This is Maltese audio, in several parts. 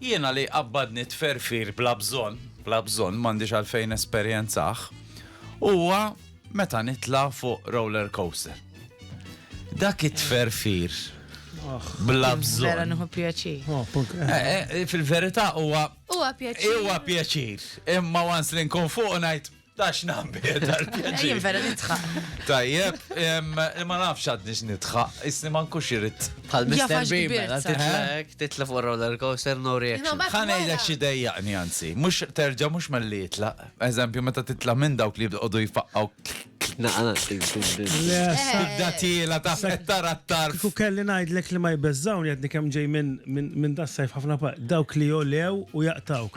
Jiena li jqabbadni t-tferfir bla bżonn, bla bżonn, m'għandix għalfejn nesperjenzah, huwa meta nitla' fuq roller coaster. Dak it-tferfir bla bżonn. Vera nieħu pjaċir. Fil-verità huwa. Huwa pjaċir. Huwa pjaċir. Imma once li nkun fuq ngħid. Tax nambir tal-pjaċir. Jien vera nitħaq. Tajjeb, ma nafx għadni x'nitħaq, isni ma nkunx irid. Bħal Mr. Beeman, titlek, titlek fuq roller coaster, no reaction. Ħanejlek xi dejjaqni anzi, mhux terġa' mhux melli jitlaq. Eżempju, meta titla' minn dawk li jibqgħodu jfaqqgħu Tibda tiela ta' tara t-tarf. Kiku kelli najdlek li ma jbeżżawni għadni kem ġej minn da sajf ħafna dawk li jolew u jaqtawk.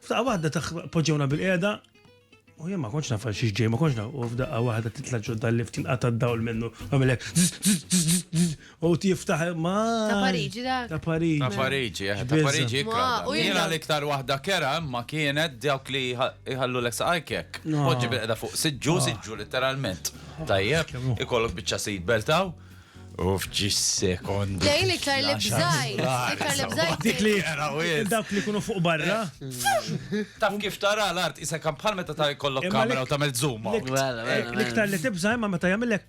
F'daqqa waħda taħ poġġewna bil-qiegħda u jien ma kontx naf xiex ġej, ma kontx naf u f'daqqa waħda titla' ġodda l-lift tinqata' d-dawl minnu għamilek u tiftaħ ma. Ta' Pariġi dak. Ta' Pariġi. Ta' Pariġi, eh, ta' Pariġi ikra. Jiena l-iktar waħda kera ma kienet dawk li jħallu l-ek saqajkek. Poġġi bil-qeda fuq siġġu, siġġu literalment. Tajjeb, ikollok biċċa seat belt Uff, ġis sekond. Lejn iktar li bżajt, iktar li bżajt. Dik li jaraw Dawk li kunu fuq barra. Taf kif tara l-art, isa kan bħal meta ta' jkollok kamera u tagħmel zoom. L-iktar li tibża imma meta jagħmilek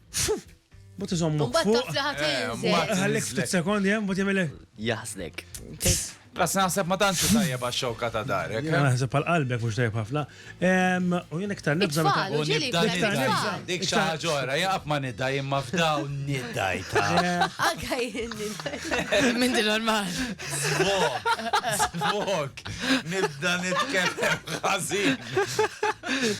Mut iżommu. Mbatt taf li ħat Ħallik ftit sekondi, mut jagħmilek. Jaħsnek. Grazzi naħseb ma tantx hu tajjeb għax-xewka ta' darek, eh? Naħseb għal qalbek mhux tajjeb ħafna. U jien iktar nibża' meta. It-tfal, u ġieli jkun hemm it-tfal. Dik xi ħaġa oħra, jien qatt ma nidgħi imma f'dawn nidgħi ta'. Anke jien nidgħi. M'inti normal. Żvok, żvok. Nibda nitkellem ħażin.